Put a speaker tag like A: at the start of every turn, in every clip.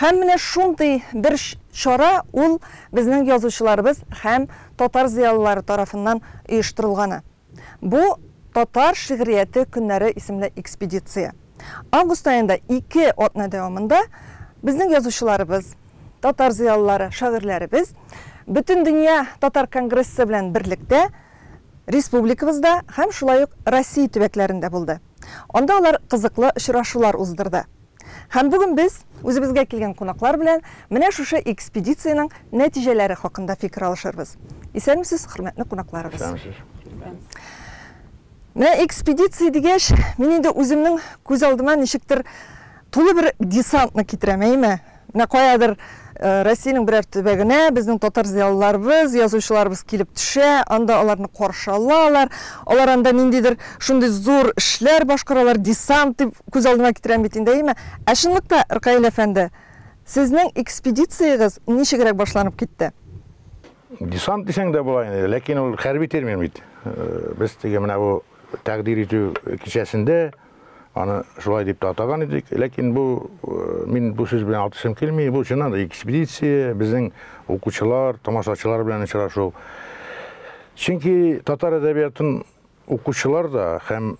A: Һәм менә шундый бер чара ул безнең язучыларыбыз һәм татар зыялылары тарафыннан оештырылганы. Бу, Татар шигърияте көннәре исемле экспедиция. Август аенда ике атна дәвамында безнең язучыларыбыз, татар зыялылары, шагыйрьләребез Бөтендөнья татар конгрессы белән берлектә республикабызда һәм шулай ук Россия төбәкләрендә булды. Анда алар кызыклы очрашулар уздырды. Һәм бүген без үзебезгә килгән кунаклар белән менә шушы экспедициянең нәтиҗәләре хакында фикер алышырбыз. Исәнмесез, хөрмәтле кунакларыбыз. Исәнмесез. Менә экспедиция дигәч, мин инде үземнең күз алдыма ничектер тулы бер десантны китерәм, әйеме? Менә каядыр Россиянең берәр төбәгенә безнең татар зыялыларыбыз, язучыларыбыз килеп төшә, анда аларны каршы алалар, алар анда ниндидер шундый зур эшләр башкаралар, десант дип күз алдыма китерәм бит инде, әйеме? Ә чынлыкта, Ркаил әфәнде, сезнең экспедициягез ничегрәк башланып китте? Десант
B: дисәң дә була инде, ләкин ул хәрби термин бит. Без теге менә бу тәкъдир итү кичәсендә аны шулай дип тә атаган идек. Ләкин бу э, мин бу сүз белән атышым килми. Бу чыннан да экспедиция, безнең укучылар, тамашачылар белән очрашу. Чөнки татар әдәбиятын укучылар да һәм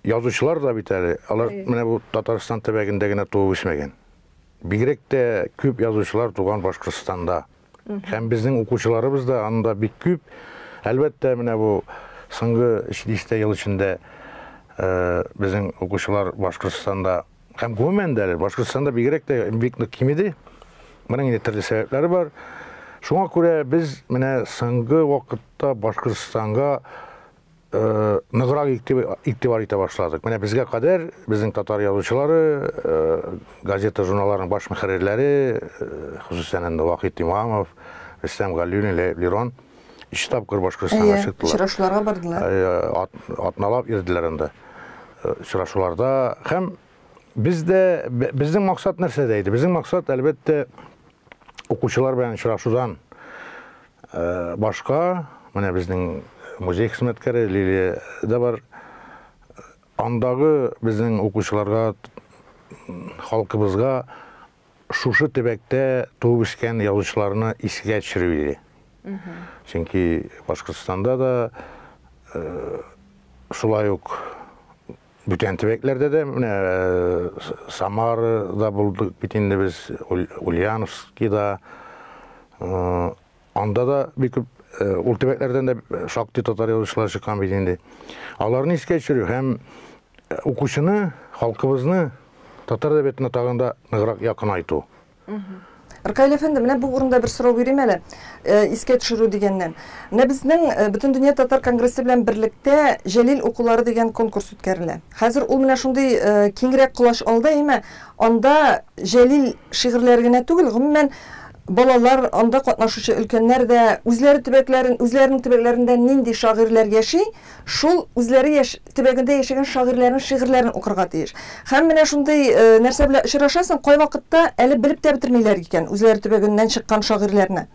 B: язучылар да бит әле, алар менә бу Татарстан төбәгендә генә туып үсмәгән. Бигрәк тә күп язучылар туган Башкортстанда. Һәм безнең укучыларыбыз да анда бик күп. Әлбәттә, менә бу соңгы 700 ел эчендә э, безнең укучылар Башкортстанда һәм гомумән дә Башкортстанда бигрәк тә бик нык кимеде. Моның инде төрле сәбәпләре бар. Шуңа күрә без менә соңгы вакытта Башкортстанга ныграк игътибар итә башладык. Менә безгә кадәр безнең татар язучылары, газета журналларының баш мөхәррирләре, хосусән инде Вахит Имамов, Рөстәм Галиуллин, Ләеп Лерон ике тапкыр Башкортстанга чыктылар. Очрашуларга бардылар.
A: Атналап
B: ирделәр анда. Очрашуларда һәм Бездә безнең максат нәрсәдә иде? Безнең максат, әлбәттә, укучылар белән очрашудан э, башка, менә безнең музей хезмәткәре Лилия да бар. Андагы безнең укучыларга, халкыбызга шушы төбәктә туып үскән язучыларны исегә төшерү иде. Чөнки Башкортстанда да э, шулай ук Бүтән төбәкләрдә дә, менә Самарада булдык бит инде без, Ульяновскида. Анда да бик күп ул төбәкләрдән дә шактый татар язучылар чыккан бит инде. Аларны искә төшерү һәм укучыны, халкыбызны татар әдәбиятына тагын да ныграк якынайту.
A: Ркаил әфәнде, менә бу урында бер сорау бирим әле. Э, искә төшерү дигәннән. Менә безнең э, Бөтен дөнья татар конгрессы белән берлектә Җәлил укулары дигән конкурс үткәрелә. Хәзер ул менә шундый э, киңрәк колач алды, әйме, анда Җәлил шигырьләре генә түгел, гомумән балалар, анда катнашучы өлкәннәр дә үзләре төбәкләрен, үзләренең төбәкләрендә нинди шагыйрьләр яши, Шул үзләре яшь төбәгендә яшәгән шагыйрьләрнең шигырьләрен укырга тиеш. Һәм менә шундый нәрсә белән очрашасың, кайвакытта әле белеп тә бетермиләр икән үзләре төбәгеннән чыккан шагыйрьләрне.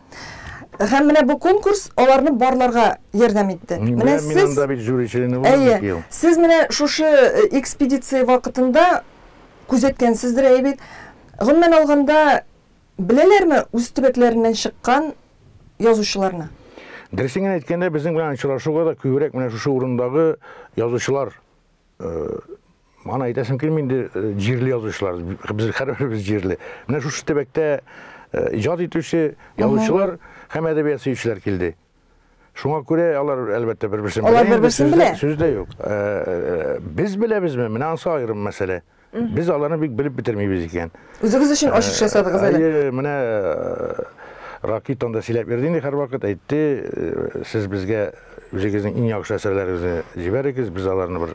A: Һәм менә бу конкурс аларны барларга ярдәм итте. Менә сез, әйе, сез менә шушы экспедиция вакытында күзәткәнсездер, әйе бит? Гомумән алганда, Беләләрме үз төбәкләреннән чыккан язучыларны? Дөресен
B: генә әйткәндә, безнең белән очрашуга да күбрәк менә шушы урындагы язучылар аны әйтәсем килми инде җирле язучылар без һәрберебез җирле менә шушы төбәктә иҗат итүче язучылар һәм әдәбият сөючеләр килде Шуңа күрә алар әлбәттә бер-берсен белә. Алар бер-берсен белә. Сүз дә юк. Э, э, без беләбезме? Менә ансы аерым мәсьәлә. Без аларны бик белеп бетермибез икән. Үзегез өчен ачыш
A: э, ясадыгыз әле. Әйе, менә
B: Ракит анда сөйләп бирде инде һәрвакыт, әйтте, сез безгә үзегезнең иң яхшы әсәрләрегезне җибәрегез, без аларны бер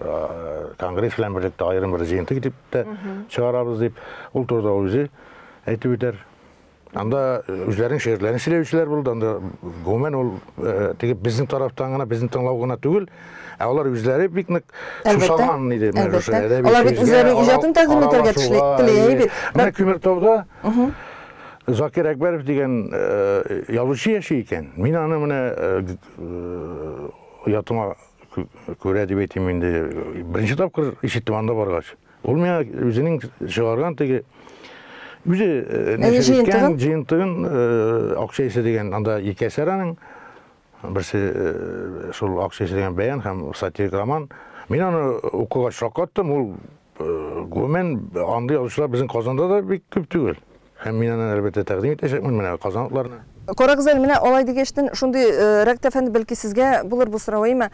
B: конгресс белән берлектә аерым бер җыентык итеп тә чыгарабыз дип, ул турыда үзе әйтеп үтәр. Анда үзләренең шигырьләрен сөйләүчеләр булды. Анда гомумән ул теге безнең тарафтан гына, безнең тыңлау гына түгел, ә алар үзләре бик нык сусаган иде менә шушы әдәби. Алар бит
A: үзләренең иҗатын тәкъдим итәргә тешли, тели бит. Менә Күмертауда
B: Закир Әкбәров дигән язучы яши икән. Мин аны менә оятыма күрә дип әйтим инде. Беренче тапкыр ишеттем анда баргач. Ул миңа үзенең чыгарган теге үзе нәшер җыентыгын акча исә дигән анда ике әсәр аның берсе шул акча исә дигән бәян һәм сатирик роман мин аны укыгач шаккаттым ул гомумән андый язучылар безнең казанда да бик күп түгел һәм мин аны әлбәттә тәкъдим итәчәкмен менә казанлыларны карагыз әле менә
A: алай дигәчтен шундый рәктәфәнд бәлки сезгә булыр бу сорау әйме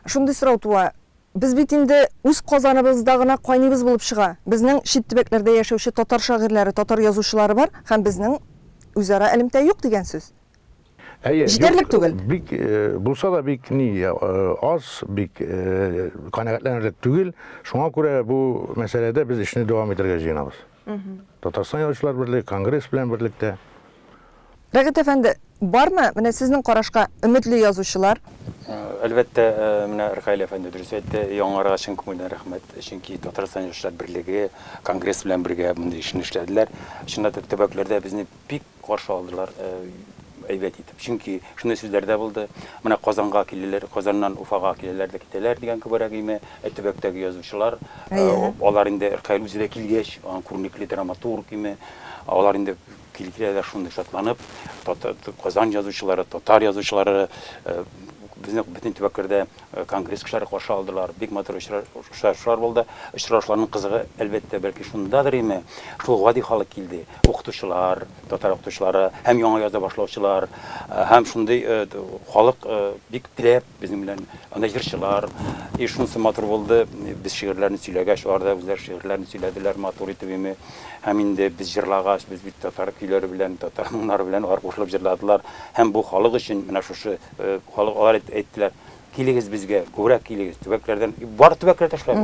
A: шундый сорау туа Без бит инде үз Казаныбызда гына кайныйбыз булып чыга. Безнең чит төбәкләрдә яшәүче татар шагыйрьләре, татар язучылары бар һәм безнең үзара элемтә юк дигән сүз. Әйе, Җитәрлек түгел. Юк, бик, булса
B: да бик ни, аз, бик канәгатьләнерлек түгел. Шуңа күрә бу мәсьәләдә без эшне дәвам итәргә җыенабыз. Татарстан Язучылар берлеге конгресс белән берлектә.
A: Рәгыйт әфәнде, бармы менә сезнең карашка өметле язучылар? Әлбәттә,
C: менә Ркаил әфәнде дөрес әйтте, яңаларга чын күңелдән рәхмәт, чөнки Татарстан Язучылар берлеге конгресс белән бергә мондый эшне эшләделәр. Чынлап та, төбәкләрдә безне бик Каршы алдылар әйбәт итеп. Чөнки шундый сүзләр дә булды, Менә Казанга киләләр, Казаннан Уфага киләләр дә китәләр дигән кебегрәк име. Ә төбәктәге язучылар, алар инде Ркаил үзе дә килгәч, күренекле драматург име, алар инде килгәләр шундый шатланып, Казан язучылары, татар язучылары безнең бөтен төбәкләрдә Конгресс кешеләре каршы алдылар. Бик матур очрашулар булды. Очрашуларның кызыгы, әлбәттә, бәлки шундадыр име, шул гади халык килде. Укытучылар, татар укытучылары һәм яңа язда башлаучылар, һәм шундый халык бик теләп безнең белән, анда җырчылар. И шунысы матур булды, без шигырьләрне сөйләгәч, алар да үзләре шигырьләрне сөйләделәр матур итеп име. Һәм инде без җырлагач, без бит татар көйләре белән, татар моңнары белән алар кушылып җырладылар. Һәм бу халык өчен менә шушы Халык алар әйттеләр, килегез безгә, күбрәк килегез, төбәкләрдән, бар төбәкләр тешләр.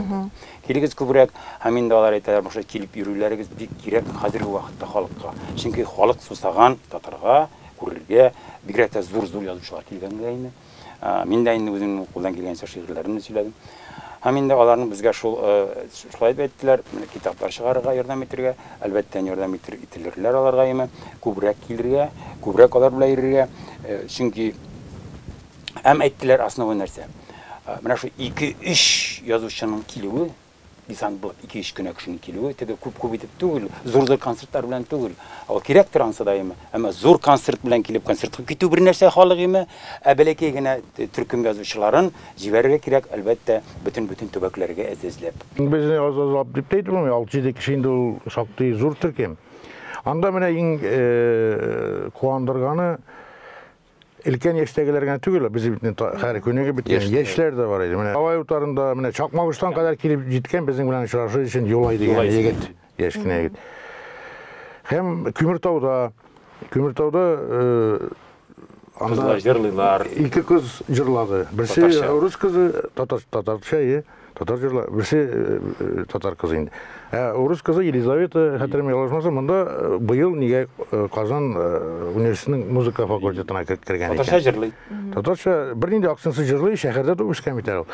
C: Килегез күбрәк, һәм инде алар әйтәләр, башлап килеп йөрүләрегез бик кирәк хәзерге вакытта халыкка. Чөнки халык сусаган татарга, күрергә, бигрәк тә зур-зур язучылар килгәнгә инде. Мин дә инде үземнең кулдан килгәнчә шигырьләремне сөйләдем. Һәм инде аларның безгә шул, шулай дип әйттеләр, китаплар чыгарырга ярдәм итергә, әлбәттә, ярдәм итер, ителерләр аларга яме, күбрәк килергә, күбрәк алар белән йөрергә, чөнки Һәм әйттеләр основой нәрсә. Менә шул 2-3 язучының килүе, десант булып 2-3 кенә кешенең килүе, теге күп-күп итеп түгел, зур-зур концертлар белән түгел. Ул кирәк тора ансы да яме. Әмма зур концерт белән килеп концертка китү бер нәрсә халык яме, ә бәләкәй генә төркем язучыларын Җибәрергә кирәк, әлбәттә, бөтен-бөтен төбәкләргә эзләп. Безне аз-азлап
B: дип тә әйтеп булмый, алты-җиде кеше инде ул шактый зур төркем. Анда менә иң куандырганы, өлкән яшьтәгеләр генә түгел, ә безнең бит хәзер күнегеп беткән яшьләр дә бар иде. Менә Алай утарында, менә Чакмагыштан кадәр килеп җиткән безнең белән очрашу өчен Юлай дигән егет. яшь кенә егет. Һәм Көмертауда, Көмертауда анда җырлыйлар.
C: Ике кыз
B: җырлады. Берсе рус кызы, татар татарча, е, татар җырла, берсе татар кызы инде. Ә рус кызы Елизавета, хәтерем ялгышмаса, монда быел нигә Казан университетының музыка факультетына кергән икән. Татарча җырлый. Татарча
C: бернинди
B: акцентсыз җырлый, шәһәрдә туып үскән бит әле ул.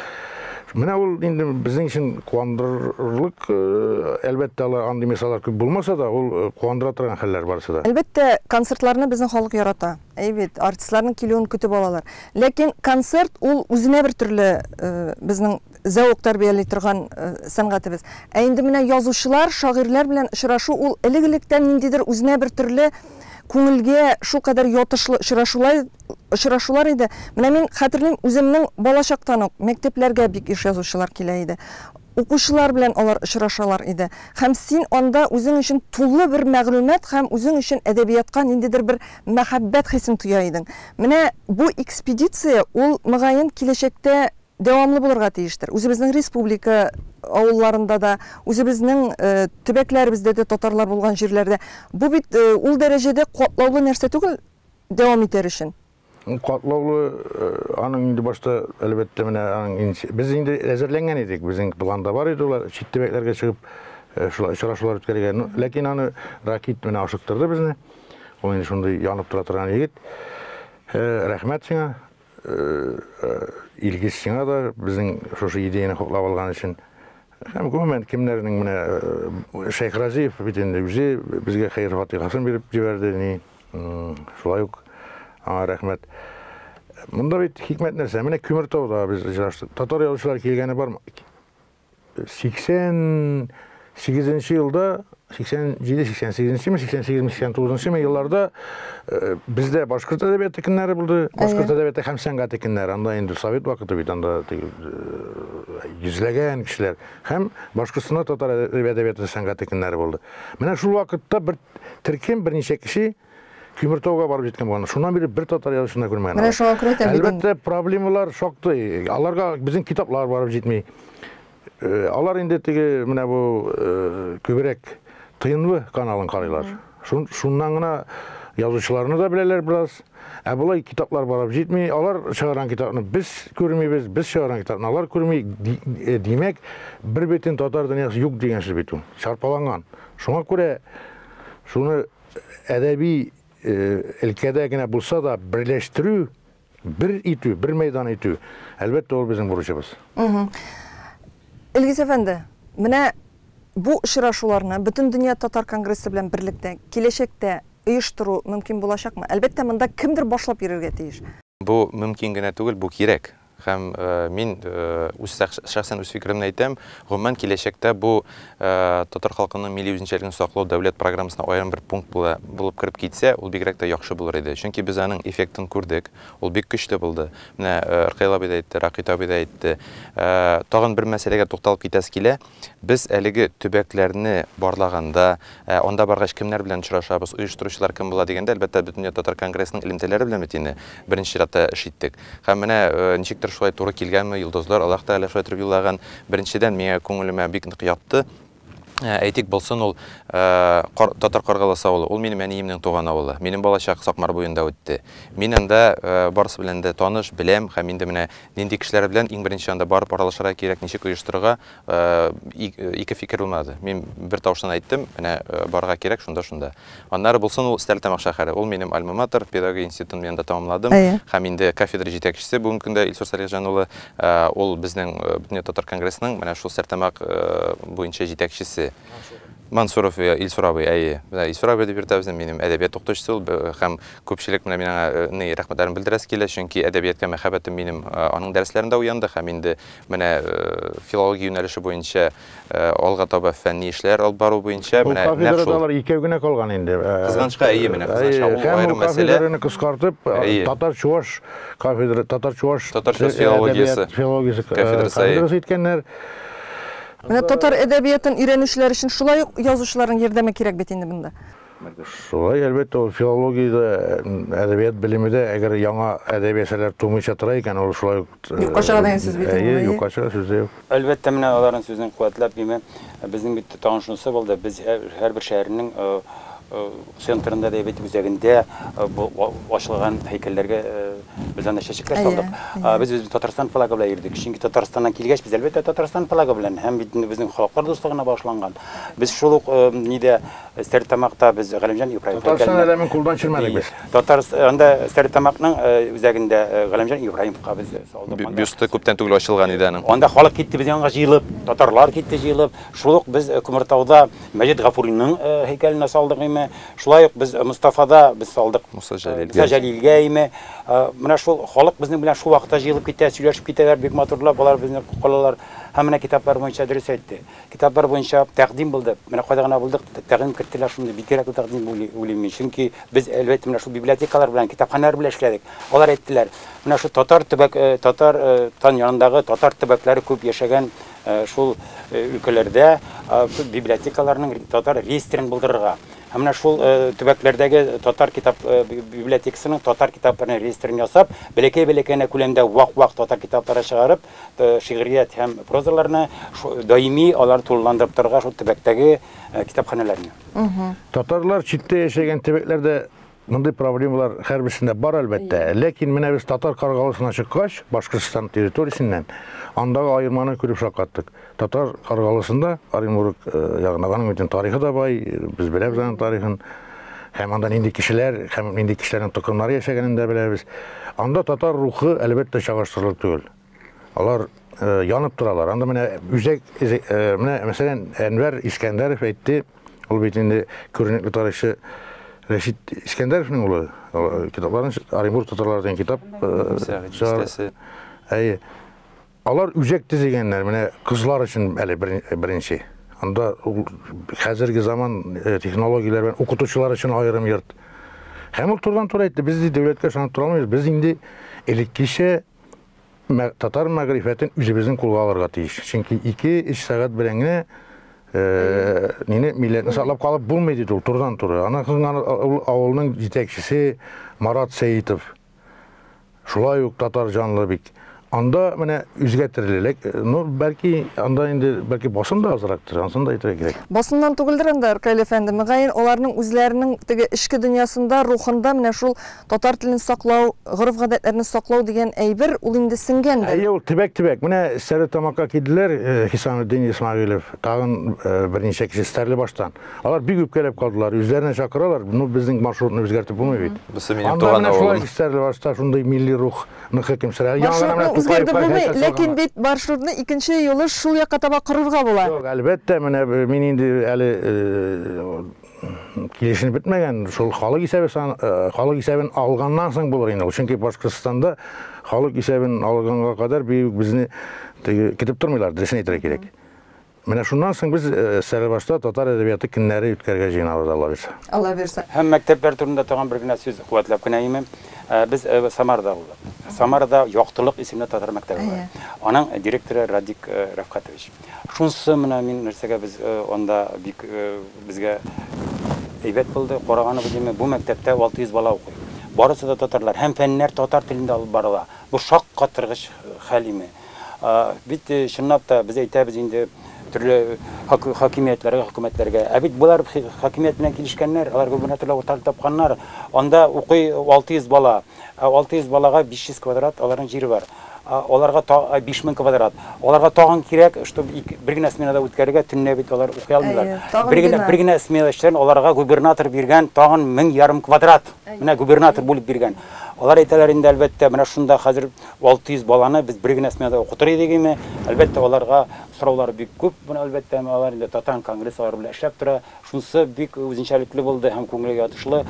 B: Менә ул инде безнең өчен куандырырлык, э, әлбәттә, алар андый мисаллар күп булмаса да, ул э, куандыра торган хәлләр барысы да. Әлбәттә, концертларны
A: безнең халык ярата. Әй бит, артистларның килүен көтеп алалар. Ләкин концерт ул үзенә бер төрле э, безнең зәвык тәрбияли торган сәнгатебез. Ә инде менә язучылар, шагыйрьләр белән очрашу ул элек-электән ниндидер үзенә бер төрле күңелгә шулкадәр ятышлы очрашулай очрашулар иде. Менә мин хәтерлим, үземнең балачактан ук мәктәпләргә бик еш язучылар килә иде. Укучылар белән алар очрашалар иде. Һәм син анда үзең өчен тулы бер мәгълүмат һәм үзең өчен әдәбиятка ниндидер бер мәхәббәт хисен тоя идең. Менә бу экспедиция ул, мөгаен, киләчәктә Дәвамлы булырга тиештер. Үзебезнең республика авылларында да, үзебезнең төбәкләребездә дә, татарлар булган җирләрдә. Бу бит ул дәрәҗәдә катлаулы нәрсә түгел дәвам итәр өчен. Катлаулы
B: аның инде башта, әлбәттә, менә аның без инде әзерләнгән идек, безнең планда бар иде ул чит төбәкләргә чыгып шулай очрашулар үткәрергә. Ләкин аны Ракит менә ашыктырды безне. Ул инде шундый янып тора торган егет. Рәхмәт сиңа. Илгиз, сиңа да, безнең шушы идеяне хуплап алган өчен. Һәм гомумән, кемнәрнең менә Шәйх Разиев бит инде үзе безгә хәер-фатихасын биреп җибәрде, ни. Шулай ук аңа рәхмәт. Монда бит хикмәт нәрсә? Менә Күмертауда без очраштык. Татар язучылары килгәне бармы? 88 елда 87-88-ме, 88-89-ме елларда э, бездә башкорт әдәбияты көннәре булды. Башкорт әдәбияты һәм сәнгате көннәре. Анда инде совет вакыты бит, анда э, йөзләгән кешеләр һәм Башкортстанда татар әдәбияты сәнгате көннәре булды. Менә шул вакытта бер төркем берничә кеше Көмертауга барып җиткән булган. Шуннан бирле бер татар язучысына күрмәгән. Менә шуңа күрә тә Әлбәттә,
A: проблемалар
B: шактый. Аларга безнең китаплар барып җитми. Э, алар инде теге менә бу э, күбрәк тынлы каналын карыйлар. Шуннан гына язучыларны да беләләр бераз. Ә болай китаплар барып җитми. Алар чыгарган китапны без күрмибез, без чыгарган китапны алар күрми. Э, димәк, бер бетен татар дөньясы юк дигән сүз бит ул. Шарпаланган. Шуңа күрә шуны әдәби өлкәдә генә булса да берләштерү, бер итү, бер мәйдан итү, әлбәттә, ул безнең бурычыбыз. Илгиз
A: әфәнде, менә бу очрашуларны Бөтендөнья татар конгрессы белән берлектә киләчәктә оештыру мөмкин булачакмы? Әлбәттә, монда кемдер башлап йөрергә тиеш. Бу мөмкин
D: генә түгел, бу кирәк. Һәм мин үз шәхсән үз фикеремне әйтәм, гомумән киләчәктә бу татар халкының милли үзенчәлеген саклау дәүләт программасына аерым бер пункт булып кереп китсә, ул бигрәк тә яхшы булыр иде. Чөнки без аның эффектын күрдек, ул бик көчле булды. Менә Ркаил абый да әйтте, Ракыйт абый да әйтте. Тагын бер мәсьәләгә тукталып китәсе килә. Без әлеге төбәкләрне барлаганда, анда баргач, кемнәр белән очрашабыз, оештыручылар кем була дигәндә, әлбәттә, Бөтендөнья татар конгрессының элемтәләре белән бит инде беренче чиратта эш иттек. Һәм менә ничектер шулай туры килгәнме, йолдызлар, Аллаһ Тәгалә шулай иттереп юллаган. Беренчедән, миңа күңелемә бик нык ятты. Әйтик, булсын ул Татар Каргаласы авылы, ул минем әниемнең туган авылы. Минем балачак Сакмар буенда үтте. Мин анда барысы белән дә таныш, беләм һәм инде менә Нинди кешеләр белән иң беренче анда барып аралашырга кирәк, ничек оештырырга, ике фикер булмады. Мин бер тавыштан әйттем, менә барырга кирәк шунда, шунда. Аннары булсын ул Стәрлетамак шәһәре. Ул минем альма-матер, педагогия институтын мин анда тәмамладым. Һәм инде кафедра җитәкчесе бүгенге көндә Илсур Салихҗан улы, ул безнең Бөтендөнья татар конгрессының менә шул Стәрлетамак буенча җитәкчесе. Мансуров Илсур абый, әйе. Менә Илсур абый дип йөртәбез, минем әдәбият укытучысы ул һәм күпчелек менә мин аңа ни рәхмәтләрен белдерәсе килә, чөнки әдәбиятка мәхәббәтем минем аның дәресләрендә уянды һәм инде менә филология юнәлеше буенча алга таба фәнни эшләр алып бару буенча менә нәкъ шул. Ул кафедрада алар икәү генә калган инде.
B: Кызганычка, әйе, менә
D: кызганычка ул аерым мәсьәлә. Һәм кафедраны кыскартып,
B: татар-чуваш кафедра, татар-чуваш филологиясе кафедрасы иткәннәр.
A: Менә татар әдәбиятын өйрәнүчеләр өчен шулай ук язучыларның ярдәме кирәк бит инде монда. Шулай,
B: әлбәттә, ул филология дә, әдәбият белеме дә, әгәр яңа әдәби әсәрләр тумыйча тора икән, ул шулай ук. Юкка чыга дигән сүз бит инде.
A: Әйе, юкка чыга сүз дә юк.
B: Әлбәттә, менә аларның
C: сүзен куәтләп, димәк, безнең бит тагын шунысы булды, без һәрбер шәһәрнең Центрында да бит үзәгендә бу ачылган һәйкәлләргә без аны чәчәкләр салдык. Без без Татарстан флагы белән йөрдек. Чөнки Татарстаннан килгәч, без әлбәттә Татарстан флагы белән һәм бит инде безнең халыклар дуслыгына багышланган. Без шул ук нидә Стәрлетамакта без Галимҗан Ибраев һәйкәлен Татарстан әләмен кулдан
B: чирмәдек без. Татар анда
C: Стәрлетамакның үзәгендә Галимҗан Ибраевка без салдык. Бюсты күптән түгел
D: ачылган иде аның. Анда халык китте без янга
C: җыелып, татарлар китте җыелып. Шул ук без Күмертауда Мәҗит Гафуриның һәйкәленә салдык име, шулай ук без Мостафада без салдык Муса Җәлилгә име. Менә шул халык безнең белән шул вакытта җыелып китә, сөйләшеп китәләр, бик матурлап алар безне калалар. Һәм менә китаплар буенча дөрес әйтте. Китаплар буенча тәкъдим булды. Менә кайда гына булдык, тәкъдим керттеләр шундый. Бик кирәкле тәкъдим дип уйлыйм мин. Чөнки без, әлбәттә, менә шул библиотекалар белән, китапханәләр белән эшләдек. Алар әйттеләр, менә шул татар төбәк, татар тан янындагы татар төбәкләре күп яшәгән Шул өлкәләрдә библиотекаларның татар реестрын булдырырга һәм менә шул төбәкләрдәге татар китап библиотекасының татар китапларының реестрын ясап, бәләкәй-бәләкәй генә күләмдә вак-вак татар китаплары чыгарып, шигърият һәм прозаларны даими алар тулыландырып торырга шул төбәктәге китапханәләрне.
B: Татарлар читтә яшәгән төбәкләрдә Мондый проблемалар һәрберсендә бар, әлбәттә. Ләкин менә без татар каргалысына чыккач, Башкортстан территориясеннән, андагы аерманы күреп шаккаттык. Татар каргалысында Оренбург э, ягында аның бөтен тарихы да бай, без беләбез аның тарихын. Һәм анда нинди кешеләр, һәм нинди кешеләрнең токымнары яшәгәнен дә беләбез. Анда татар рухы әлбәттә чагыштырырлык түгел. Алар янып торалар. Анда менә үзәк менә мәсәлән Әнвәр Искәндәров әйтте, ул бит инде күренекле тарихчы Рәшит Искәндәровның улы. Китапларын Оренбург татарлары дигән китап чыгарды. Әйе. Алар үзәк төзегәннәр, менә кызлар өчен әле беренче. Анда хәзерге заман технологияләр белән укытучылар өчен аерым йорт. Һәм ул турыдан-туры әйтте, без дәүләткә ышанып тора алмыйбыз, без инде элеккечә татар мәгърифәтен үзебезнең кулга алырга тиеш. Чөнки 2-3 сәгать белән генә э, нине милләтне саклап калып булмый диде ул турдан туры. Ана кызган авылның җитәкчесе Марат Сәитов. Шулай ук татар җанлы бик. Анда менә үзгәртерлек, э, ну бәлки анда инде бәлки басым да азрактыр, ансын да әйтергә кирәк. Басымнан түгелдер анда
A: Аркаил әфәнде, мөгаен аларның үзләренең теге эчке дөньясында, рухында менә шул Татар телен саклау, гореф-гадәтләрне саклау дигән әйбер, ул инде сеңгәндер. Әйе, ул төбәк-төбәк. Менә
B: Стәрлетамакка килделәр, Хисаметдин Исмәгыйлев, тагын берничә кеше Стәрлебаштан. Алар бик үпкәләп калдылар, үзләренә чакыралар, ну, безнең маршрутны үзгәртеп булмый бит. Бусы минем туган авылым. Анда
D: менә шулай Стәрлебашта шундый
B: милли рух нык хөкем сөрә. Маршрутны үзгәртеп булмый,
A: ләкин бит маршрутны икенче юлы шул якка таба корырга була. Юк, әлбәттә, менә
B: мин инде әле килешенеп бетмәгән, шул халык исәбе сан, э, халык исәбен алганнан соң булыр инде. Чөнки Башкортстанда халык исәбен алганга кадәр бик безне көтеп тормыйлар, дөресен әйтергә кирәк. Менә шуннан соң без э, Сәрәбашта татар әдәбияты көннәре үткәрергә җыенабыз Алла бирсә. Алла бирсә. Һәм мәктәпләр турында
C: тагын бер генә сүз куәтләп кенә имем. Э, без Самарда булдык. Самарда Яктылык исемле татар мәктәбе бар. Аның директоры Радик Рәфкатович. Шунсы менә мин нәрсәгә без анда бик безгә әйбәт булды, караганы бу димә, бу мәктәптә 600 бала укый. Барысы да татарлар һәм фәннәр татар телендә алып барыла. Бу шаккатыргыч хәл име. Бит чынлап та без әйтәбез инде төрле хакимиятләргә, хөкүмәтләргә. Ә бит болар хакимият белән килешкәннәр, алар губернаторлар утыртып тапканнар. Анда укый 600 бала. Ә 600 балага 500 квадрат аларның җире бар. Ә аларга та 5000 квадрат. Аларга тагын кирәк, чтоб ике, бер генә сменада үткәрергә, төнлә бит алар укый алмыйлар. Әйе, тагын Бер генә, бина. бер генә смена эшчеләрен аларга губернатор биргән тагын мең ярым квадрат. Менә губернатор бүлеп биргән. Алар әйтәләр инде, әлбәттә, менә шунда хәзер 600 баланы без бер генә сменада укытыр идек име. Әлбәттә, аларга сораулар бик күп, моны, әлбәттә, алар инде Татан конгресс алар белән эшләп тора. Шунысы бик үзенчәлекле булды һәм күңелгә ятышлы,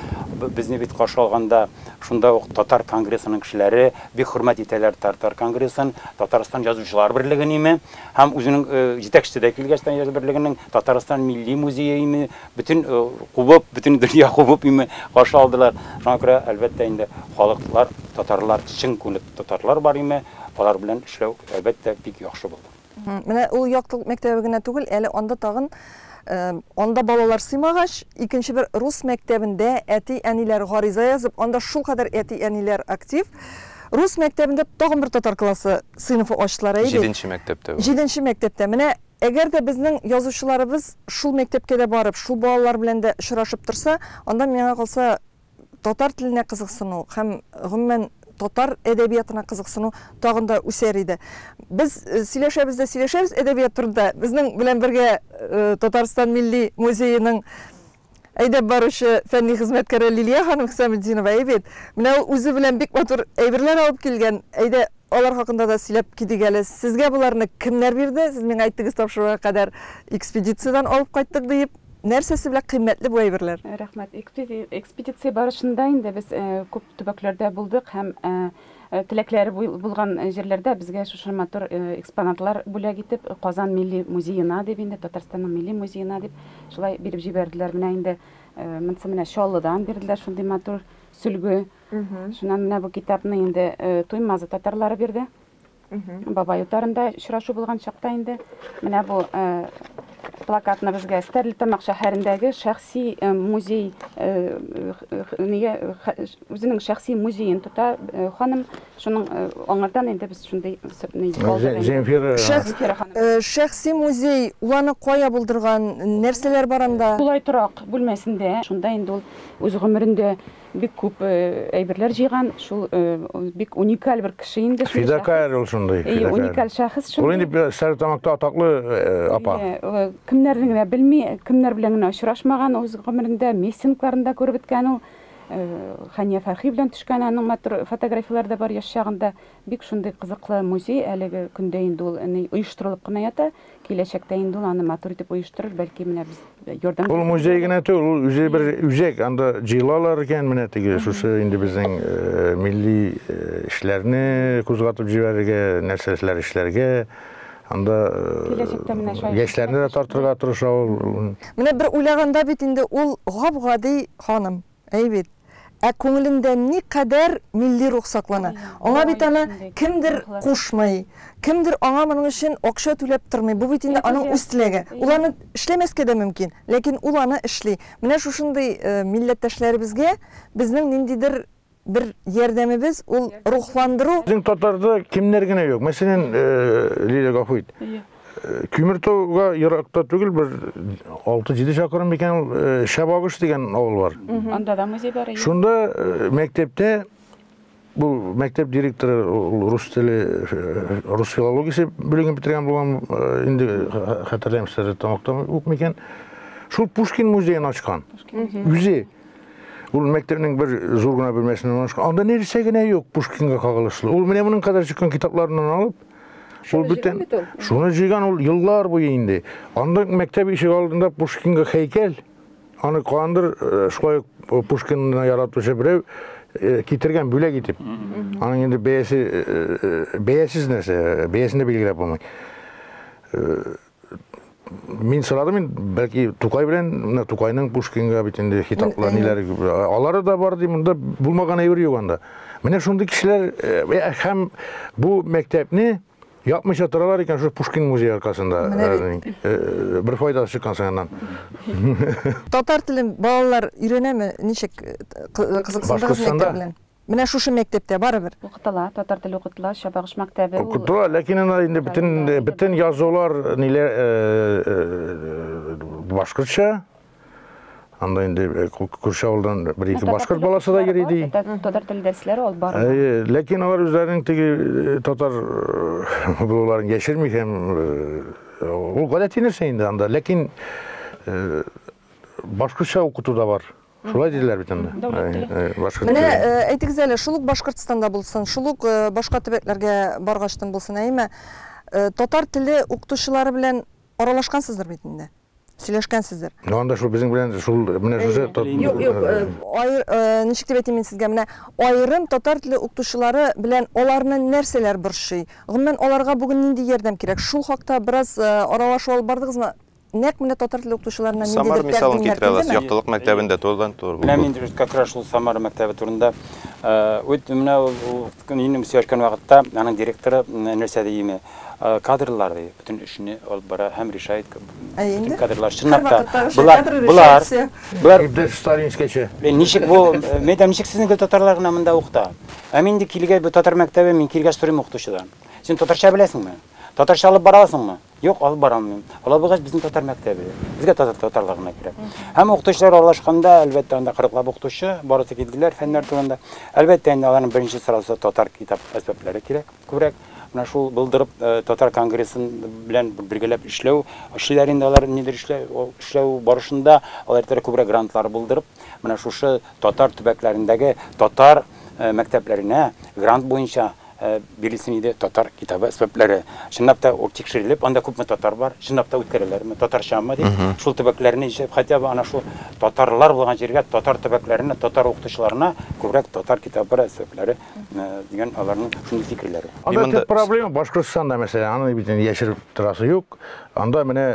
C: безне бит каршы алганда шунда ук татар конгрессының кешеләре, бик хөрмәт итәләр татар конгрессын, Татарстан Язучылар берлегенеме һәм үзенең җитәкчесе дә килгәч тә язучылар берлегенең Татарстан милли музееме, бөтен кубып, бөтен дөнья кубып име каршы алдылар. Шуңа күрә, әлбәттә инде, халыклар, татарлар, чын күңелле татарлар бар име, алар белән эшләү, әлбәттә, бик яхшы булды. Менә ул яктылык
A: мәктәбе генә түгел, әле анда тагын анда балалар сыймагач, икенче бер рус мәктәбендә әти-әниләр гариза язып, анда шулкадәр әти-әниләр актив. Рус мәктәбендә тагын бер татар классы сыйныфы ачтылар әйе. Җиденче мәктәптә. Җиденче
D: мәктәптә. Менә
A: әгәр дә безнең язучыларыбыз шул мәктәпкә дә барып, шул балалар белән дә очрашып торса, анда миңа калса татар теленә кызыксыну һәм, гомумән, татар әдәбиятына кызыксыну тагын да үсәр иде. Без сөйләшәбез дә сөйләшәбез әдәбият турында. Безнең белән бергә Татарстан Милли музееның әйдәп баручы фәнни хезмәткәре Лилия ханым Хисаметдинова, әйбит. Менә ул үзе белән бик матур әйберләр алып килгән. Әйдә, алар хакында да сөйләп китик әле. Сезгә боларны кемнәр бирде? Сез миңа әйттегез тапшыруга кадәр экспедициядән алып кайттык диеп. Нәрсәсе белән кыйммәтле бу әйберләр? Рәхмәт.
E: Экспедиция барышында инде без күп төбәкләрдә булдык һәм теләкләре булган җирләрдә безгә шушы матур экспонатлар бүләк итеп, Казан милли музеена дип инде, Татарстанның милли музеена дип, шулай биреп җибәрделәр. Менә инде монысы менә Чаллыдан бирделәр шундый матур сөлге. Шуннан менә бу китапны инде Туймазы татарлары бирде. Бабай утарында очрашу булган чакта инде менә бу э, плакатны безгә Стәрлетамак шәһәрендәге шәхси э, музей э, нигә үзенең шәхси музеен тота ханым. Шуның аңардан инде без шундый Земфира
A: шәхси музей уланы кая булдырган,
E: нәрсәләр
A: бар анда?
E: Тулай торак бүлмәсендә, шунда
A: инде ул
E: үз
A: гомерендә
E: бик күп әйберләр җыйган, шул бик уникаль бер кеше инде шул. Фидакарь ул шундый.
B: Әйе, уникаль шәхес шул.
E: Ул инде Стәрлетамакта
B: атаклы апа. Әйе, кемнәрне генә
E: белми, кемнәр белән генә очрашмаган үз гомерендә, миссингларында күреп беткән ул. Хания Фәрхи белән төшкән аның матур фотографияләре дә бар яшь чагында. Бик шундый кызыклы музей, әлеге көндә инде ул ни оештырылып кына ята, киләчәктә инде ул аны матур итеп оештырыр, бәлки менә без ярдәм. Ул музей генә түгел, ул
B: үзе бер үзәк, анда җыелалар икән, менә теге шушы инде безнең милли эшләрне кузгатып җибәрергә, нәрсәләр эшләргә, анда яшьләрне дә тартырга тырыша ул. Менә бер уйлаганда
A: бит инде ул гап-гади ханым. Әй бит. Ә күңелендә никадәр милли рух саклана. Аңа бит аны кемдер кушмый, кемдер аңа моның өчен акча түләп тормый. Бу бит инде аның үз теләге. Ул аны эшләмәскә дә мөмкин, ләкин ул аны эшли. Менә шушындый милләттәшләребезгә безнең ниндидер бер ярдәмебез, ул рухландыру. Безнең татарда
B: кемнәр генә юк. Мәсәлән, Лилия, гафу ит. Көмертауга еракта түгел, бер 6-7 чакрым микән ул э, Шәбагыш дигән авыл бар. Анда да музей бар.
E: Шунда э,
B: мәктәптә бу мәктәп директоры ул рус теле, э, рус филологиясе бүлеген бетергән булган, инде хәтерләмим сәре тамактан ук микән. Шул Пушкин музеен ачкан. Үзе Ул мәктәпнең бер зур гына бүлмәсеннән ашкан. Анда нәрсә генә юк Пушкинга кагылышлы. Ул менә моның кадәр чыккан китапларыннан алып, Ул бөтен шуны җыйган ул еллар буе инде. Анда мәктәп ишек алдында Пушкинга хәйкәл. Аны кандыр э, шулай э, Пушкинны яратучы берәү э, китергән бүләк итеп. Аның инде бәясе бәясез нәрсә, бәясен дә билгеләп булмый. мин сорадым мин бәлки тукай белән менә тукайның пушкинга бит инде хитаплы ниләр алары да бар ди монда булмаган әйбер юк анда менә шундый кешеләр һәм бу мәктәпне япмыйча торалар икән шул пушкин музее аркасында бер файдасы чыккан соңыннан
A: татар телен балалар өйрәнәме ничек кызыксындыгыз мәктәп белән Менә шушы мәктәптә, барыбер. Укытыла, татар теле
E: укытыла, Чабагыш мәктәбе ул. Укытыла, ләкин анда
B: инде бөтен, бөтен язулар, ниләр, башкортча. Анда инде күрше авылдан бер-ике башкорт баласы да йөри, ди. Татар теле дәресләре
E: алып бара. Ләкин алар
B: үзләренең теге татар булуларын яшерми һәм ул гадәти нәрсә инде анда, ләкин башкортча укыту да бар. Шулай диләр бит инде. Менә
A: әйтегез әле, шул ук Башкортстанда булсын, шул ук башка төбәкләргә баргачтын булсын, әйеме, татар теле укытучылары белән аралашкансыздыр бит инде? Сөйләшкәнсездер. Ну анда шул безнең
B: белән шул менә шушы Юк, юк,
A: ничек дип әйтим мин сезгә, менә аерым татар теле укытучылары белән аларны нәрсәләр борчый? Гомумән, аларга бүген нинди ярдәм кирәк? Шул хакта бераз аралашу алып бардыгызмы? Нәкъ менә татар теле укытучыларына ниндидер Самар мисалын китерә аласыз.
D: Яктылык мәктәбендә турыдан тур бу. Менә мин дөрес как раз шул
C: Самара мәктәбе турында үт менә минем сөйләшкән вакытта аның директоры нәрсә ди име? Кадрлар ди, бөтен эшне алып бара һәм решает бөтен кадрлар чынлап та. Булар, булар. Булар дөрес сталинскечә.
B: Ничек бу?
C: Мәйдам ничек сезнең гел татарлар гына монда укыта? Ә мин инде килгәч бу татар мәктәбе, мин килгәч сорыйм укытучыдан. Син татарча беләсеңме? Татарча алып бара аласыңмы? Юк, алып бара алмыйм. Алабугач безнең татар мәктәбе. Безгә татар татарлар гына кирәк. Һәм укытучылар аралашканда, әлбәттә, анда 40 лап укытучы, барысы килделәр фәннәр турында. Әлбәттә, инде аларның беренче сорасы татар китап әсбаплары кирәк күбрәк. Менә шул булдырып э, татар конгрессын белән бергәләп эшләү, эшлиләр инде алар нидер эшләү, эшләү барышында алар әйтәләр күбрәк грантлар булдырып, менә шушы татар төбәкләрендәге татар э, мәктәпләренә грант буенча Бирелсен иде татар китабы сәбәпләре. Чынлап та ул тикшерелеп, анда күпме татар бар, чынлап та үткәрәләрме, татарчамы дип, шул төбәкләрне ишеп, хотя бы ана шул татарлар булган җиргә, татар төбәкләренә, татар укытучыларына күбрәк татар китабы сәбәпләре дигән аларның шундый фикерләре. Анда төп проблема
B: Башкортстанда, мәсәлән, аны бит инде яшереп торасы юк. Анда менә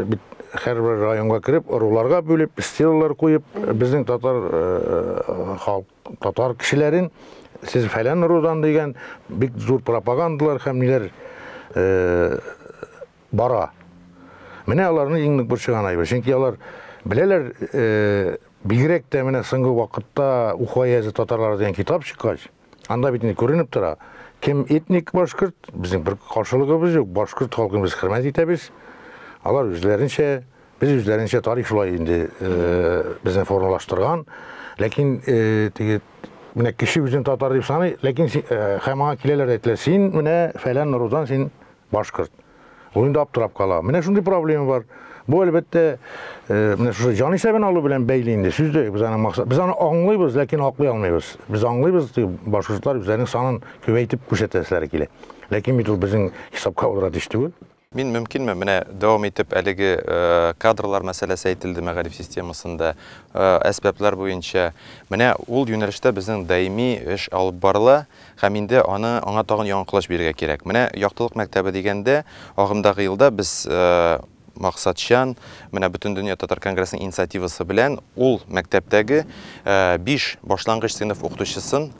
B: бит һәрбер районга кереп, ыруларга бүлеп, стелалар куеп, безнең татар халык Татар кешеләрен сез фәлән ырудан дигән бик зур пропагандалар һәм ниләр э, бара. Менә аларны иң нык борчыган айбы. Чөнки алар беләләр, э, бигрәк тә менә соңгы вакытта Уфа язы татарлары дигән китап чыккач, анда бит инде күренеп тора. Кем этник башкорт, безнең бер каршылыгыбыз юк, башкорт халкын без хөрмәт итәбез. Алар үзләренчә Без үзләренчә тарих шулай инде безне формалаштырган. Ләкин теге менә кеше үзен татар дип саный, ләкин һәм аңа киләләр әйтәләр, син менә фәлән рудан син башкорт. Ул инде аптырап кала. Менә шундый проблема бар. Бу әлбәттә менә шушы җан исәбен алу белән бәйле инде сүз дә без аны максат. Без аны аңлыйбыз, ләкин аклый алмыйбыз. Без аңлыйбыз, башкортлар үзләренең санын күбәйтеп күрсәтәселәре килә. Ләкин бит ул безнең хисапка авыра төш түгел. Мин мөмкинме, менә
D: дәвам итеп әлеге кадрлар мәсьәләсе әйтелде мәгариф системасында, әсбаплар буенча. Менә ул юнәлештә безнең даими эш алып барыла һәм инде аны аңа тагын яңа колач бирергә кирәк. Менә Яктылык мәктәбе дигәндә, агымдагы елда без максатчан, менә Бөтендөнья татар конгрессының инициативасы белән ул мәктәптәге биш башлангыч сыйныф укытучысын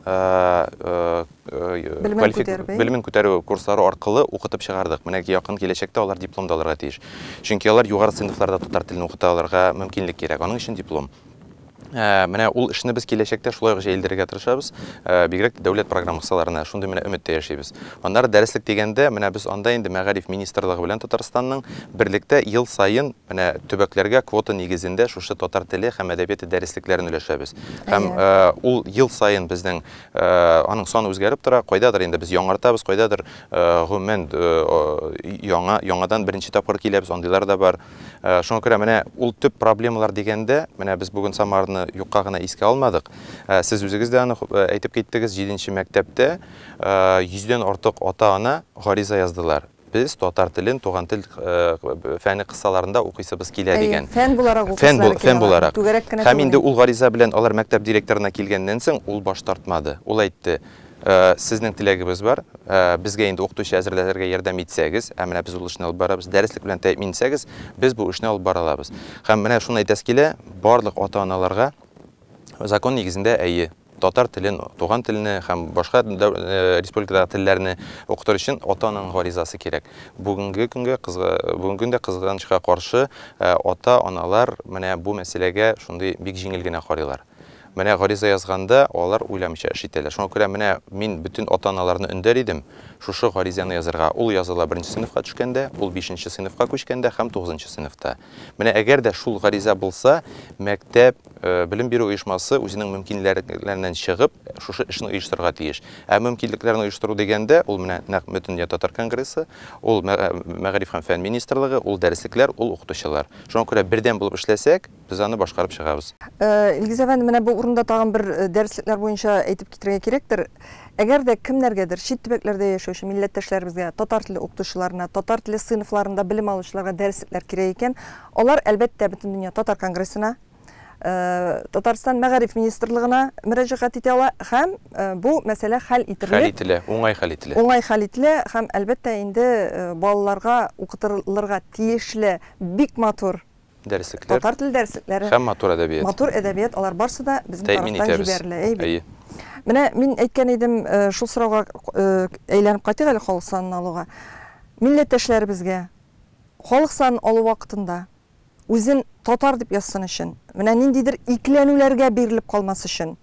D: белемен күтәрү курслары аркылы укытып чыгардык. Менә якын киләчәктә алар диплом да алырга тиеш. Чөнки алар югары сыйныфларда татар телен укыта алырга мөмкинлек кирәк. Аның өчен диплом. Менә ул эшне без киләчәктә шулай ук җәелдерергә тырышабыз. Бигрәк тә дәүләт программа кысаларына шундый менә өмет тә яшибез. Аннары дәреслек дигәндә, менә без анда инде Мәгариф министрлыгы белән Татарстанның берлектә ел саен менә төбәкләргә квота нигезендә шушы татар теле һәм әдәбияты дәреслекләрен өләшәбез. Һәм ул ел саен безнең Аның саны үзгәреп тора, кайдадыр инде без яңартабыз, кайдадыр гомумән яңа, яңадан беренче тапкыр киләбез, андыйлар да бар. Шуңа күрә менә ул төп проблемалар дигәндә, менә без бүген Самарны юкка гына искә алмадык. Сез үзегез дә аны әйтеп киттегез, 7 мәктәптә 100 дән артык ата-ана гариза яздылар. Без татар телен туган тел фәне кысаларында укыйсыбыз килә дигән. Фән буларак укыйсылары килә.
A: Фән буларак. Түгәрәк кенә
D: түгел. Һәм инде ул гариза белән алар мәктәп директорына килгәннән соң, ул баш тартмады. Ул әйтте, Сезнең теләгебез бар, безгә инде укытучы әзерләтергә ярдәм итсәгез, ә менә без ул эшне алып барабыз, дәреслек белән тәэмин итсәгез, без бу эшне алып бара алабыз. Һәм менә шуны әйтәсе килә, барлык ата-аналарга, Закон нигезендә, әйе. Татар телен, туган телне һәм башка республикадагы телләрне укытыр өчен ата-ананың гаризасы кирәк. Бүгенге көнгә, бүгенге көндә кызганычка каршы, ата-аналар менә бу мәсьәләгә шундый бик җиңел генә карыйлар. Менә гариза язганда, алар уйламыйча эш итәләр. Шуңа күрә менә мин бөтен ата-аналарны өндәр идем шушы гаризаны язырга. Ул языла беренче сыйныфка төшкәндә, ул бишенче сыйныфка күчкәндә һәм тугызынчы сыйныфта. Менә әгәр дә шул гариза булса, мәктәп, белем бирү оешмасы үзенең мөмкинлекләреннән чыгып, шушы эшне оештырырга тиеш. Ә мөмкинлекләрен оештыру дигәндә, ул менә нәкъ Бөтендөнья татар конгрессы, ул мәгариф һәм фән министрлыгы, ул дәреслекләр, ул укытучылар. Шуңа күрә бердәм булып эшләсәк, без аны башкарып чыгабыз. Илгиз әфәнде,
A: менә бу урында тагын бер дәреслекләр буенча әйтеп китерергә кирәктер. Әгәр дә кемнәргәдер, чит төбәкләрдә яшәүче милләттәшләребезгә, татар теле укытучыларына, татар теле сыйныфларында белем алучыларга дәреслекләр кирәк икән, алар, әлбәттә, Бөтендөнья татар конгрессына, Татарстан Мәгариф министрлыгына мөрәҗәгать итә ала һәм бу мәсьәлә хәл ителер. Хәл ителә, уңай хәл
D: ителә. Уңай хәл ителә һәм,
A: әлбәттә, инде балаларга укытылырга тиешле бик матур Дәреслекләр. Татар
D: теле дәреслекләре.
A: Һәм матур әдәбият. Матур
D: әдәбият, алар
A: барсы да безнең тарафтан җибәрелә. Әйе бит. Менә мин әйткән идем, шул сорауга әйләнеп кайтыйк әле халык санын алуга. Милләттәшләребезгә халык санын алу вакытында үзен татар дип язсын өчен, менә ниндидер икеләнүләргә бирелеп калмас өчен,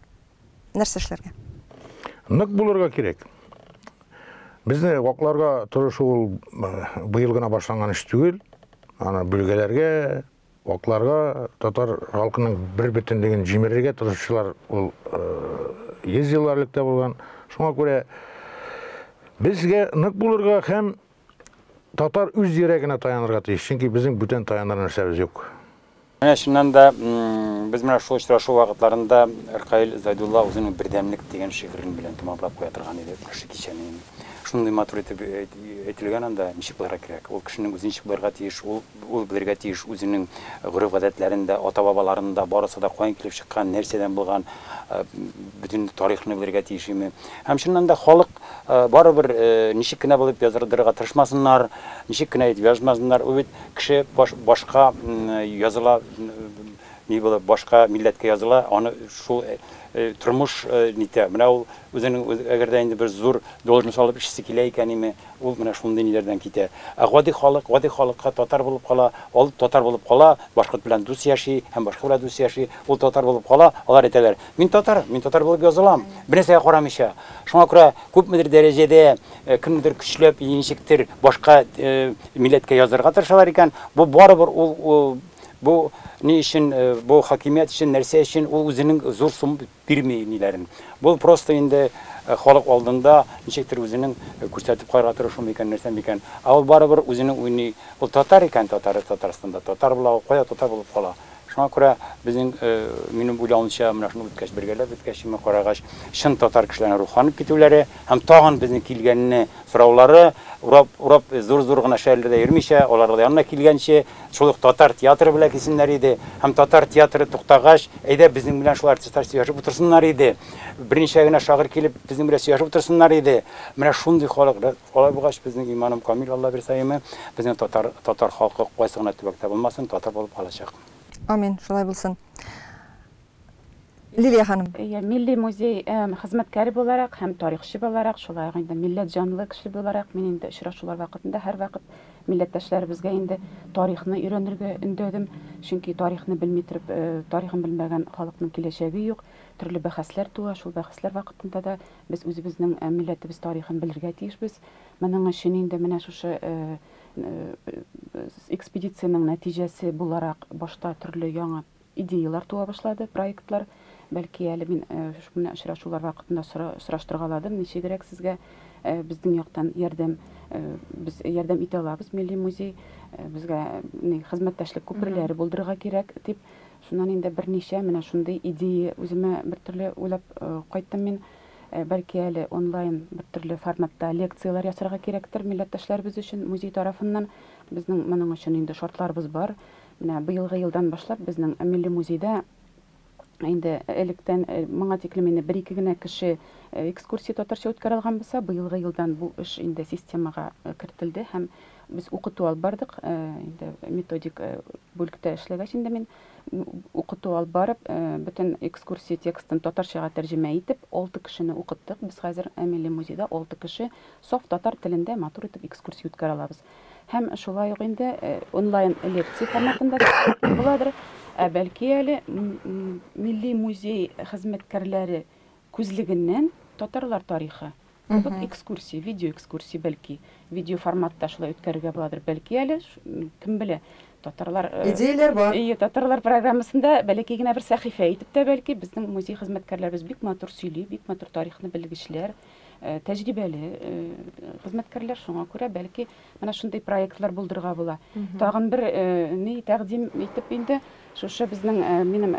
A: нәрсә эшләргә? Нык
B: булырга кирәк. Безне вакларга тырышу ул быел гына башланган эш түгел. Аны бүлгәләргә, вакларга, татар халкының бер бөтенлеген җимерергә тырышучылар ул йөз еллар элек тә булган. Шуңа күрә безгә нык булырга һәм Татар үз йөрәгенә таянырга тиеш, чөнки безнең бүтән таяныр нәрсәбез юк. Менә чыннан
C: да без менә шул очрашу вакытларында Ркаил Зайдулла үзенең Бердәмлек дигән шигырен белән тәмамлап куя торган иде күрше кичәне. Шундый матур итеп әйтелгән анда, ничек булырга кирәк? Ул кешенең үзен ничек булырга тиеш? Ул Ул белергә тиеш үзенең гореф-гадәтләрен дә, ата-бабаларын да, барысы да каян килеп чыккан, нәрсәдән булган, бөтен тарихны белергә тиеш име. Һәм чыннан да халык барыбер ничек кенә булып яздырдырырга тырышмасыннар, ничек кенә итеп язмасыннар, ул бит кеше башка языла, ни булып, башка милләткә языла, аны шул тормыш нитә. Менә ул үзенең, әгәр дә инде бер зур должность алып эшлисе килә икән име, Ул менә шундый ниләрдән китә. Ә гади халык, гади халыкка татар булып кала, ал татар булып кала, башкорт белән дус яши һәм башка белән дус яши, ул татар булып кала, алар әйтәләр, мин татар, мин татар булып язылам, бернәрсәгә карамыйча. Шуңа күрә күпмедер дәрәҗәдә кемнедер көчләп яи ничектер башка милләткә яздырырга тырышалар икән, бу барыбер ул бу ни өчен, бу хакимият өчен, нәрсә өчен, ул үзенең зур сум Бирми ниләрен. Бу просто инде халык алдында ничектер үзенең күрсәтеп карарга тырышу микән, нәрсә микән. Ә ул барыбер үзенең уйный. Ул татар икән, татары Татарстанда татар була, ул кая татар булып кала. Шуңа күрә безнең, минем уйлавымча, менә шуны үткәч, бергәләп үткәч, шуны карагач, чын татар кешеләренең рухланып китүләре һәм тагын безнең килгәнне сораулары, урап, урап, зур-зур гына шәһәрләрдә йөрмичә, алар янына килгәнче, Шул ук татар театры белән килсеннәр иде. Һәм татар театры туктагач, әйдә безнең белән шул артистлар сөйләшеп утырсыннар иде. Берничә генә шагыйрь килеп, безнең белән сөйләшеп утырсыннар иде. Менә шундый халык. Алай булгач, безнең иманым камил, Аллабирсаимы, безнең татар, татар халкы кайсы гына төбәктә булмасын, татар булып калачак. Амин, шулай
A: булсын. Лилия ханым. Әйе, Милли музей
E: хезмәткәре буларак һәм тарихчы буларак, шулай ук инде милләт җанлы кеше буларак мин инде очрашулар вакытында һәрвакыт милләттәшләребезгә инде тарихны өйрәнергә өндәдем. Чөнки тарихны белми торып, тарихын белмәгән халыкның киләчәге юк. Төрле бәхәсләр туа, шул бәхәсләр вакытында да без үзебезнең милләтебез тарихын белергә тиешбез. Моның өчен инде менә шушы экспедициянең нәтиҗәсе буларак башта төрле яңа Идеяләр туа башлады, проектлар. Бәлки әле мин менә очрашулар вакытында сораштырга аладым, ничегрәк сезгә безнең яктан ярдәм, без ярдәм итә алабыз, милли музей, безгә хезмәттәшлек күперләре булдырырга кирәк, дип. Шуннан инде берничә менә шундый идея үземә бертөрле уйлап кайттым мин. Бәлки әле онлайн бертөрле форматта лекцияләр ясарга кирәктер милләттәшләребез өчен музей тарафыннан. Безнең моның өчен инде шартларыбыз бар. Менә быелгы елдан башлап безнең Милли музейда инде электән моңа тиклем инде бер-ике генә кеше экскурсия татарча үткәрә алган булса, быелгы елдан бу эш инде системага кертелде һәм без укыту алып бардык. Инде методик бүлектә эшләгәч инде мин укыту алып барып, бөтен экскурсия текстын татарчага тәрҗемә итеп, 6 кешене укыттык. Без хәзер Милли музейда 6 кеше саф татар телендә матур итеп экскурсия үткәрә алабыз. Һәм шулай ук инде онлайн лекция форматында буладыр. Ә бәлки әле милли музей хезмәткәрләре күзлегеннән татарлар тарихы Кызык экскурсия, видео экскурсия бәлки. Видео форматта шулай үткәрергә буладыр. Бәлки әле, кем белә, татарлар... Э, Идеяләр бар. Ие,
A: татарлар программасында
E: бәләкәй генә бер сәхифә итеп тә бәлки безнең музей хезмәткәрләребез бик матур сөйли, бик матур тарихны белгечләр. э, тәҗрибәле э, хезмәткәрләр, шуңа күрә бәлки менә шундый проектлар булдырырга була. Тагын бер э, ни тәкъдим итеп инде шушы безнең минем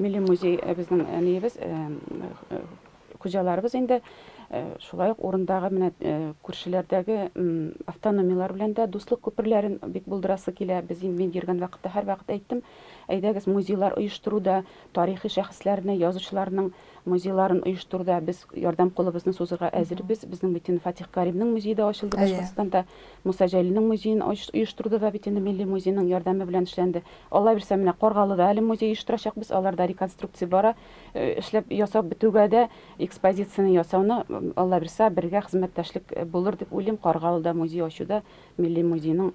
E: милли музей безнең ниебез хуҗаларыбыз инде шулай ук урындагы менә күршеләрдәге автономиялар белән дә дуслык күперләрен бик булдырасы килә. Без инде мин йөргән вакытта һәрвакыт әйттем, әйдәгез музейлар оештыруда тарихи шәхесләрне, язучыларның Музейларын оештыруда без ярдәм кулыбызны сузырга әзербез. Безнең бит инде Фатих Каримның музее дә ачылды Башкортстанда. Муса Җәлилнең музеен оештыруда да бит инде милли музейның ярдәме белән эшләнде. Алла бирсә, менә Каргалыда әле музей оештырачакбыз. Алар да реконструкция бара. Эшләп, ясап бетүгә дә экспозицияне ясауны, Алла бирса, бергә хезмәттәшлек булыр дип уйлыйм. Каргалыда музей ачуда милли музейның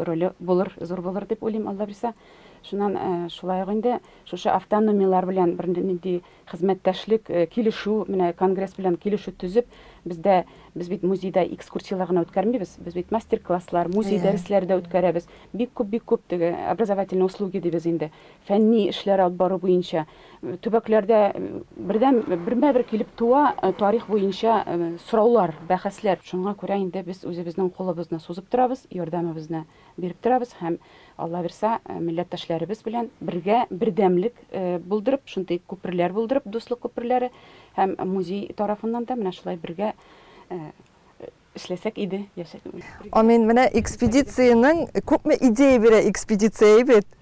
E: роле булыр, зур булыр дип уйлыйм, Алла бирса. Шуннан шулай ук инде Шушы автономияләр белән бер нинди хезмәттәшлек, килешү, менә конгресс белән килешү төзеп, бездә без бит музейда экскурсияләр генә үткәрмибез, без бит мастер-класслар, музей дәресләре дә үткәрәбез. Бик күп, бик күп теге образовательные услуги дибез инде. Фәнни эшләр алып бару буенча төбәкләрдә бердәм бермә-бер килеп туа тарих буенча сораулар, бәхәсләр. Шуңа күрә инде без үзебезнең кулыбызны сузып торабыз, ярдәмебезне биреп торабыз һәм алла бирса милләттәшләребез белән бергә бердәмлек булдырып шундый күперләр булдырып дуслык күперләре һәм музей тарафыннан да менә шулай бергә эшләсәк иде яшәсәк амин менә
A: экспедицияның күпме идея бирә экспедиция бит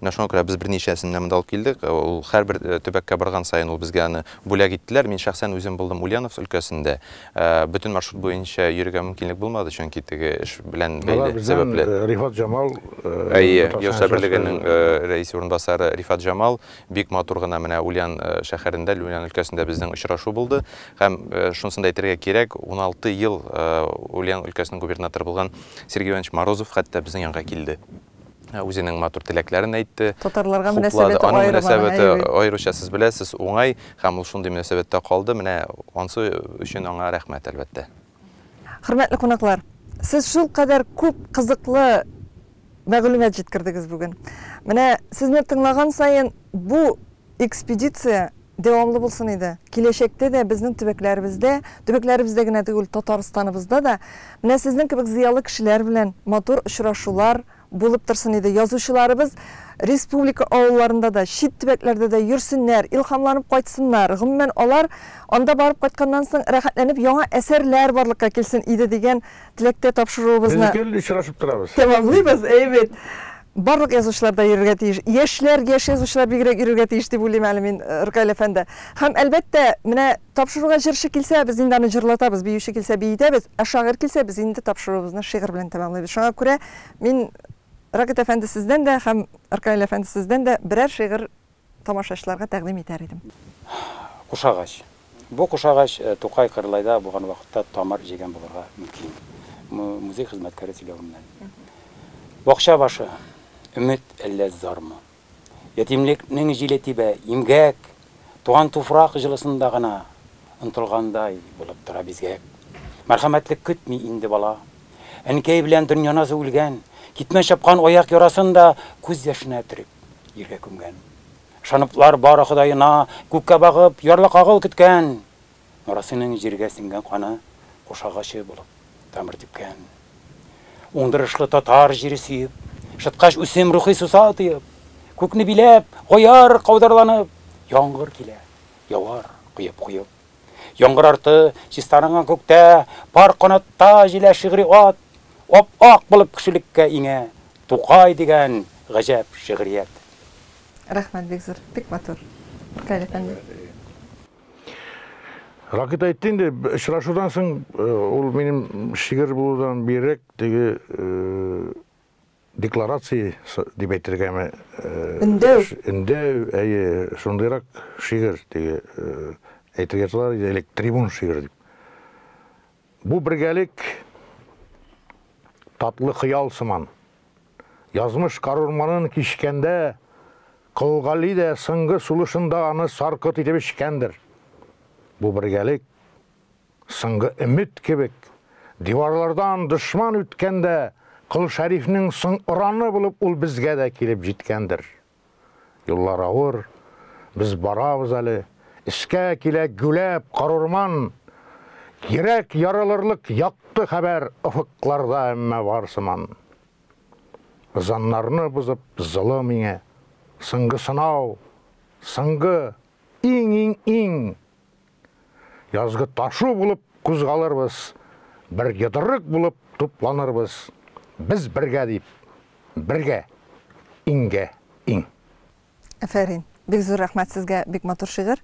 D: Менә шуңа күрә без берничәсен менә монда алып килдек. Ул һәрбер төбәккә барган саен ул безгә аны бүләк иттеләр. Мин шәхсән үзем булдым Ульяновск өлкәсендә. Бөтен маршрут буенча йөрергә мөмкинлек булмады, чөнки теге эш белән бәйле сәбәпле. Алар безнең Рифат Җамал.
B: Әйе, Яшьләр
D: берлегенең рәисе урынбасары Рифат Җамал бик матур гына менә Ульян шәһәрендә, Ульян өлкәсендә безнең очрашу булды. Һәм шунысын да әйтергә кирәк, уналты ел Ульян өлкәсенең губернаторы булган Сергей Иванович Морозов хәтта безнең янга килде. Ә үзенең матур теләкләрен әйтте. Татарларга мөнәсәбәте аерым.
A: Аның мөнәсәбәте аеруча, сез
D: беләсез, уңай, һәм ул шундый мөнәсәбәттә калды, менә ансы өчен аңа рәхмәт, әлбәттә. Хөрмәтле
A: кунаклар, сез шулкадәр күп кызыклы мәгълүмат җиткердегез бүген. Менә сезне тыңлаган саен бу Экспедиция дәвамлы булсын иде. Киләчәктә дә безнең төбәкләребездә, төбәкләребездә генә түгел, Татарстаныбызда да менә сезнең кебек зыялы кешеләр белән матур очрашулар булып торсын иде. Язучыларыбыз республика авылларында да, чит төбәкләрдә дә йөрсеннәр, илһамланып кайтсыннар, гомумән, алар анда барып кайтканнан соң рәхәтләнеп яңа әсәрләр барлыкка килсен иде дигән теләктә тапшыруыбызны Без гел очрашып торабыз.
B: Тәмамлыйбыз, әйбет.
A: Барлык язучылар да йөрергә тиеш. Яшьләр, яшь язучылар бигрәк йөрергә тиеш дип уйлыйм әле мин, Ркаил әфәнде. Һәм, әлбәттә, менә тапшыруга җырчы килсә, без инде аны җырлатабыз, биюче килсә, биетәбез, ә шагыйрь килсә, без инде тапшыруыбызны шигырь белән тәмамлыйбыз. Шуңа күрә мин Рагыйт әфәнде сездән дә һәм Ркаил әфәнде сездән дә берәр шигырь тамашачыларга тәкъдим итәр идем? Кушагач.
C: Бу кушагач Тукай Кырлайда булган вакытта тамыр җигән булырга мөмкин. Музей хезмәткәре сөйләвеннән. Бакча башы, өмет әллә зармы? Ятимлекнең җиле тибә, имгәк, туган туфрак җылысында гына ынтылгандай булып тора бизгәк. Мәрхәмәтлек көтми инде бала, Әнкәй белән Дөньяназ үлгән, китмә чапкан аяк ярасын да күз яшенә төреп, җиргә күмгән. Ышаныплар бары Ходаена күккә багып, ярлыкагыл көткән. Нурасыйның җиргә сеңгән каны куш агачы булып тамыр типкән. Уңдырышлы татар җире сөеп, шыткач үсем рухи суса тоеп, күкне биләп, гояр каударланып, яңгыр килә, явар коеп-коеп. Яңгыр арты чистарынган күктә, Пар канатта җилә шигъри ат, Ап-ак булып кешелеккә иңә Тукай дигән гаҗәп шигърият. Рәхмәт
A: бик зур, бик матур, Ркаил әфәнде.
B: Ракыйт әйтте инде, очрашудан соң, ул минем шигырь булудан бигрәк теге Декларация дип әйтергәме? Өндәү. Өндәү, әйе, шундыйрак шигырь, теге әйтергә язалар иде элек трибун шигырь дип. Бу бергәлек татлы хыял сыман. Язмыш карурманын кичкәндә Колгали дә соңгы сулышында аны саркыт итеп эчкәндер. Бу бергәлек соңгы өмет кебек, диварлардан дошман үткәндә, Кол Шәрифнең соң ораны булып ул безгә дә килеп җиткәндер. Юллар авыр, без барабыз әле, өскә килә гүләп карурман. Йөрәк ярылырлык якты хәбәр офыкларда әмма бар сыман. Ызаннарны бозып золы миңа, соңгы сынау, соңгы, иң-иң-иң Язгы ташу булып кузгалырбыз, Бер йодрык булып тупланырбыз, Без бергә дип, бергә, иңгә, иң. Әфәрин!
A: Бик зур рәхмәт сезгә, бик матур шигырь.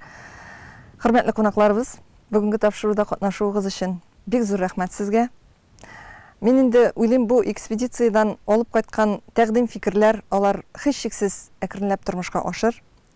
A: Хөрмәтле кунакларыбыз, бүгенге тапшыруда катнашуыгыз өчен бик зур рәхмәт сезгә. Мин инде уйлыйм, бу экспедициядән алып кайткан тәкъдим-фикерләр, алар һичшиксез әкренләп тормышка ашыр.